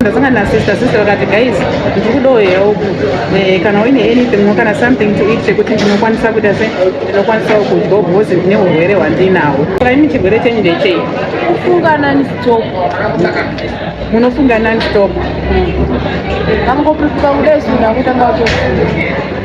ndasanga nasister sister vakati guys ndiri kudawo help eh, kana uine anything or kana something to eat chekuti ndinokwanisa kuita se ndinokwanisawo kudyawo because ndine urwere hwandinawo kaimi chirwere chenyu ndechei kufunga nani stop munofunga nani stop vangopipuka kudai zvinhu akutanga kutofunga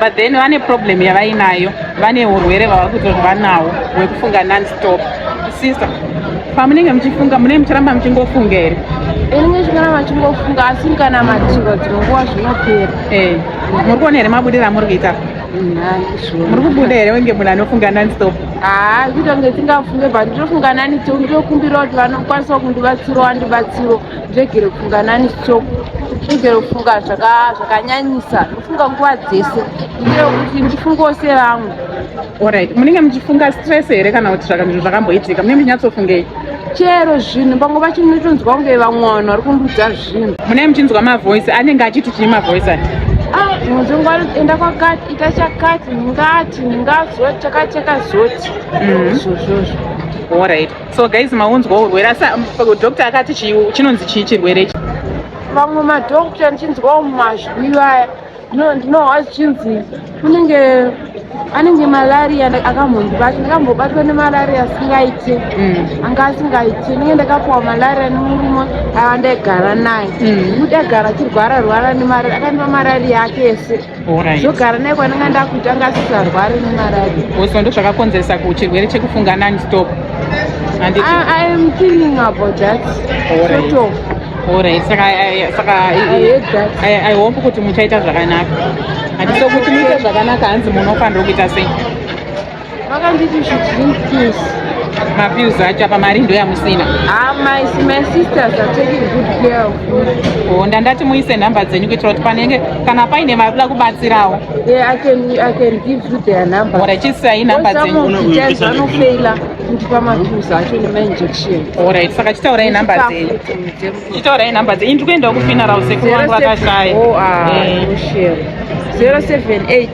but then vane problem yavainayo vane urwere vava kutorwa nawo hwekufunga nonstop sister pamunenge muchifunga munenge muchiramba muchingofunga here inenge chikaramba chingofunga asi kana matiro dzimwe nguva zvinopera eh, muri kuona here mabudiro amuri kuita muri kubuda here wenge munhu anofunga nonstop haa kuita kunge tingafunge but nditofunga nani tokumbira kuti vanokwanisawo kundibatsiro wandibatsiro ndregere kufunga nani stop ndregere kufunga zvakanyanyisa ndofunga nguva dzese ndire kuti ndifungewo sevamwe orit munenge muchifunga stress here kana kuti zvakanzvinhu zvakamboitika munenge muchinyatsofungei chero zvinhu pamwe pacho munotonzwa kunge vamwe vanhu vari kundudza zvinhu munenge muchinzwa mavoice anenge achiti chii mavoice ati muzungu anoenda kwakati ita chakati ndingati ndingazoti chakati chakazoti mm-hmm. izvozvozvo orit so guys maunzwa urwere asi um, doctor akati chinonzi chii chirwere ichi vamwe madoctor ndichinzwawo mumazwi vaya ndinohwa zvichinzi kunenge anenge malaria akambondibatwa ndakambobatwa nemalaria asingaite mm. anga asingaite nenge ndakapuwa malaria nemurume avandaigara naye mm. kuti agara achirwara rwara nemalaria akandipa malaria yake yese zvogara naye kwananga ndakuita ngasisarwari nemarari bcause ndo zvakakonzeresa kuchirwere chekufunga non stop iam thinking about that sort of orit saka saka i hope kuti muchaita zvakanaka hatiso kuti muite zvakanaka hanzi munofanira kuita sei vakanditi you should drink pills mapills acho apa mari ndo yamusina ah, my, my sisters are taking good care of me oh, ndandati muise nhamba dzenyu kuitira kuti panenge kana paine vari kuda kubatsirawo yeah, I can, I can give you their number ora chisai nhamba dzenyuvanofeila kundipa mapills acho nemainjection orit saka chitaurai nhamba dzenyu chitaurai nhamba dzenyu ndiri kuendawo kufinarau sekuru vangu vakashaya 078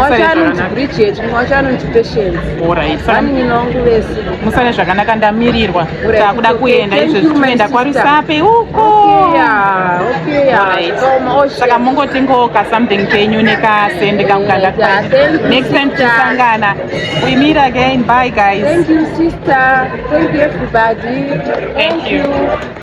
wacho anonzi bridget mumwe wacho anonzi patience vanin'ina wangu vese musane zvakanaka ndamirirwa takuda kuenda izvezvi tinoenda kwarusape uko saka mongotingoka something kenyu nekasendi kakukanda next time tichasangana we meet again bye guys thank you sister thank you everybody thank you